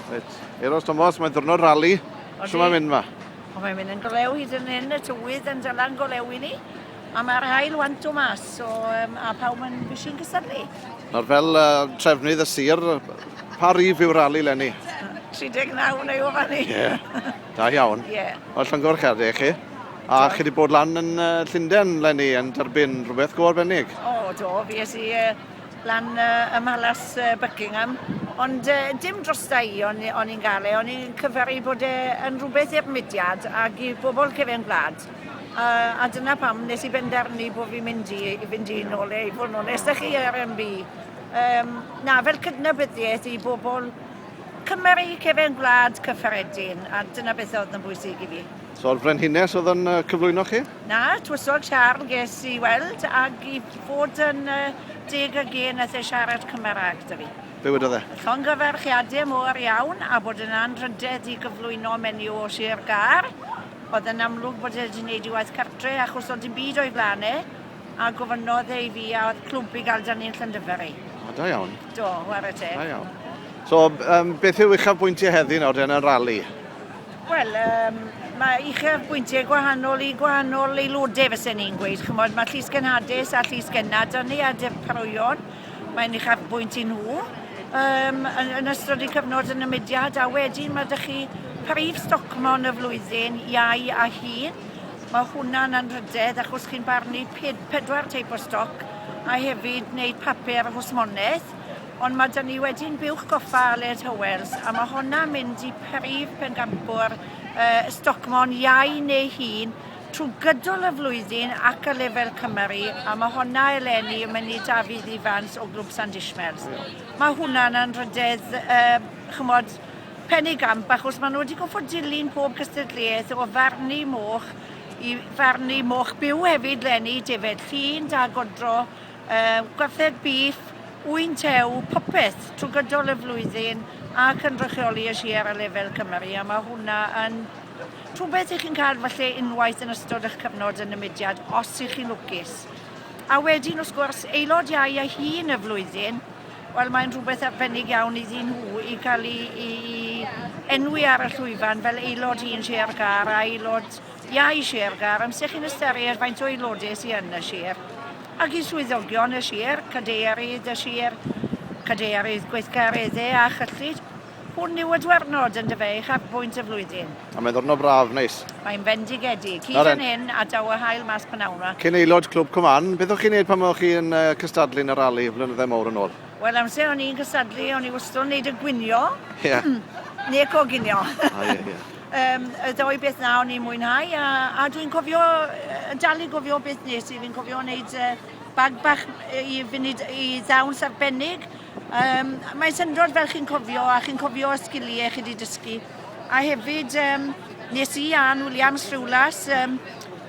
Reit, Eros Thomas, mae'n ddwrnod rali. Sut mae'n mynd ma? O, mae'n mynd yn golew hyd yn hyn, y tywydd yn dylan golew i ni. A mae'r hael wan tu mas, so, um, a pawb yn bisi'n cysylltu. Nawr fel uh, trefnydd y sir, pa rif yw'r rali lenni? 39 neu o fan ni. Ie, yeah. da iawn. Ie. Yeah. O, llongor cherddi chi. A chi wedi bod lan yn uh, Llundain lenni yn derbyn rhywbeth go arbennig? O, do, fi es i uh, lan ym Mhalas Buckingham, ond uh, dim drosta i o'n, on i'n gael e, o'n i'n cyferi bod e yn rhywbeth i'r mudiad ac i bobl cefn gwlad. Uh, a dyna pam nes i benderfynu bod fi'n mynd i, i fynd i'n ôl e, i fod yn onest â chi ar MB. Um, na, fel cydnabyddiaeth i bobl cymeru cefn gwlad cyffredin, a dyna beth oedd yn bwysig i fi. So'r frenhines oedd yn cyflwyno chi? Na, twysog siarl ges i weld ag i fod yn deg ag e nath e siarad Cymraeg 'da fi. Be wedodd e? Llongyfarchiade mor iawn a bod yn anrhydedd i gyflwyno menyw o Sir Gâr. Oedd yn amlwg bod e 'di neud ei waith cartre achos oedd dim byd o'i flan e a gofynnodd e i fi a oedd clwb i gael 'da ni'n Llandyfri. O, da iawn. Do, ware teg. Da iawn. So, um, beth yw uchafbwyntiau heddi nawr den yn rali? Wel, um, mae uchafbwyntiau gwahanol i gwahanol aelodau, fysa ni'n gweud. Chymod, mae llys gynhadus a llys gynnar da ni a dyparoion. Mae'n uchafbwynt i nhw um, yn, yn ystod y cyfnod yn y mudiad a wedyn mae ydych chi prif stocmon y flwyddyn, iau a hyd. Mae hwnna'n anrhydedd achos chi'n barnu pedwar teip o stoc a hefyd wneud papur hwsmonaeth Ond mae 'da ni wedyn Buwch Goffa Aled Howells a mae honna'n mynd i prif bencampwr y Stocmon iau neu hun trwy gydol y flwyddyn ac ar lefel Cymru a mae honna eleni yn mynd i Dafydd Ifans o Glwb Sandishmells. Mae hwnna'n anrhydedd, uh, chymod, pen ei gamp achos maen nhw wedi goffod dilyn pob cystadleuaeth o farnu moch i farnu moch byw hefyd lenni, defed llun, da godro, Yy, gwartheg bîff, ŵyn tew, popeth trwy gydol y flwyddyn a cynrychioli y sir ar lefel Cymru, a mae hwnna yn rhywbeth i chi'n cael falle unwaith yn ystod eich cyfnod yn y mudiad, os i chi'n lwcus. A wedyn, wrth gwrs, aelod iau a hun y flwyddyn, wel mae'n rhywbeth arbennig iawn iddyn nhw i cael ei, ei enwi ar y llwyfan fel aelod un Sir Gâr a aelod Iau Sir Gar, amser chi'n ystyried faint o aelodau sydd yn y sir, ac i swyddogion y sir, cadeirydd y sir, cadeirydd gweithgareddau a chyllid, hwn yw y diwrnod yn dyfe i charbwynt y flwyddyn. A mae'n ddwrnod braf, neis. Mae'n fendigedig. Hyd yn hyn, a daw y haul mas p'nawn 'ma. Cyn aelod Clwb Cymann, beth o'ch chi'n neud pan o'ch chi yn cystadlu yn y rali flynyddau mowr yn ôl? Wel, amser o'n i'n cystadlu, o'n i wastod yn neud y gwinio. Ie. Neu coginio. O ie, ie. Um, y ddoi beth na o'n i'n mwynhau a, a dwi'n cofio, yn dal i gofio beth nes i, fi'n cofio wneud uh, bag bach i fynd i ddawns arbennig. Um, mae'n syndod fel chi'n cofio a chi'n cofio y sgiliau chi wedi dysgu. A hefyd, um, nes i Ann Williams Rhywlas, um,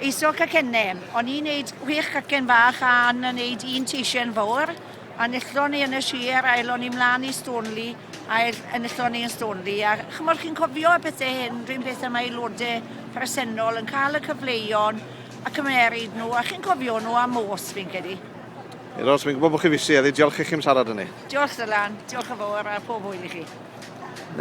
eiso cacennau. O'n i'n neud chwech cacen fach a Ann yn neud un teisiau yn fawr a nillon ni yn y sir a elon ni mlaen i Stonely ail enillodd ni yn Stoneleigh a ch'mod chi'n cofio y pethe hyn run peth am aelode presennol yn cael y cyfleuon a cymeryd nhw a chi'n cofio nhw am os fi'n credu. Ie, Ros, fi'n gwybod bod chi fisi heddi, diolch i chi'm siarad â ni. Diolch Dylan, diolch yn fawr a phob hwyl i chi.